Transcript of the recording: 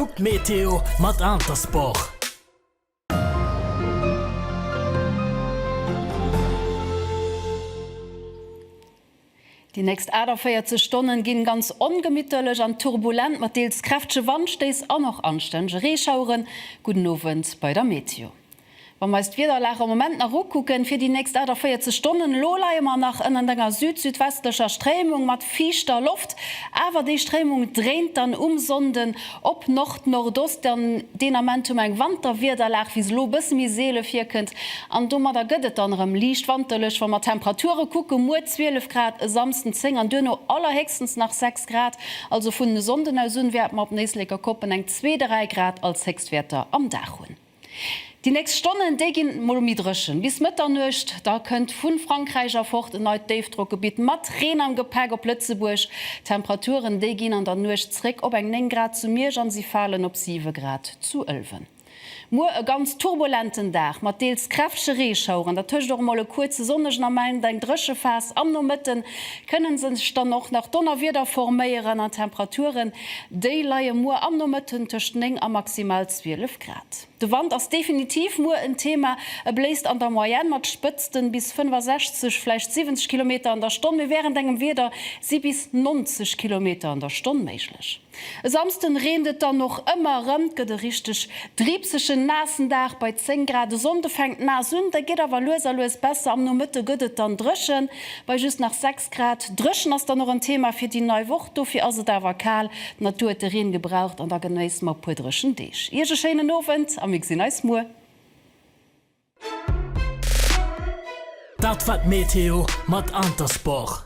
Kuck d'Meteo mat Intersport! Déi nächst 48 Stonne ginn ganz ongemitterlech an turbulent, mat deels kräftege Wandstéiss an och anstännege Reeschaueren. Gudden Owend bei der Meteo. Wa mer eis d'Wiederlag am Moment nach ukucken, fir déi nächst 48 Stonnen, elo leie mer nach ënnert enger süd-südwestlecher Stréimung mat fiichter Loft, awer déi Stréimung dréint dann um Sonnden op Nord-Nordost, dann deen Ament hu mer eng Wanterwiederlag, wéi se elo e bësse méi seele virkënnt, an domadder gëtt et dann erëm liicht wanterlech. Wa mer d'Temperature kucke, muer 12 Grad, e Samsden 10 an duerno allerhéchstens nach 6 Grad, also vun e Sonnden aus un wäerte mer op Néisléckerkoppen eng zwee, dräi Grad als Héchstwäerter am Dag hunn. Déi nächst Stonnen, déi ginn mol méi dréchen, bis Mëtternuecht. Da kënnt vu Frankräich erfort en neit Déifdrockgebitt mat Reen am Gepäck op Lëtzebuerg. D'Temperaturen, déi ginn an der Nuecht zréck op eng 9 Grad zu Miersch an si falen op 7 Grad zu Ëlwen. Muer e ganz turbulenten Dag mat deels kräftege Reeschaueren, dertëscht och mol e kuerze sonnegen Ament, eng dréche Phas. Am Nomëtte kënne sech dann och nach Donnerwieder forméieren an d'Temperaturen, déi leie muer am Nomëtten tëscht 9 a maximal 12. Grad. De Wand ass definitiv muer en Thema. E bléist an der Moyenne mat Spëtzten bis 65, vläicht 70 Kilometer an der Stonn, mee wärend engem Wieder si bis 90 Kilometer an der Stonn méiglech. E Samsden reent et dann och ëmmer erëm, 't gëtt e richteg driibsegen, naassen Dag bei 10 Grad. E Sonnde fänkt naass un, da geet awer lues a lues besser. Am Nomëtte gëtt et dann dréchen bei just nach 6. Grad. Dréchen ass dann och en Thema fir déi nei Woch, dofir ass et awer kal. D'Natur huet de Reen gebraucht an da genéisst mer e puer dréchen Deeg. Iech e schéinen Owend a mir gesinn eis muer. Dat war d'Meteo mat Intersport.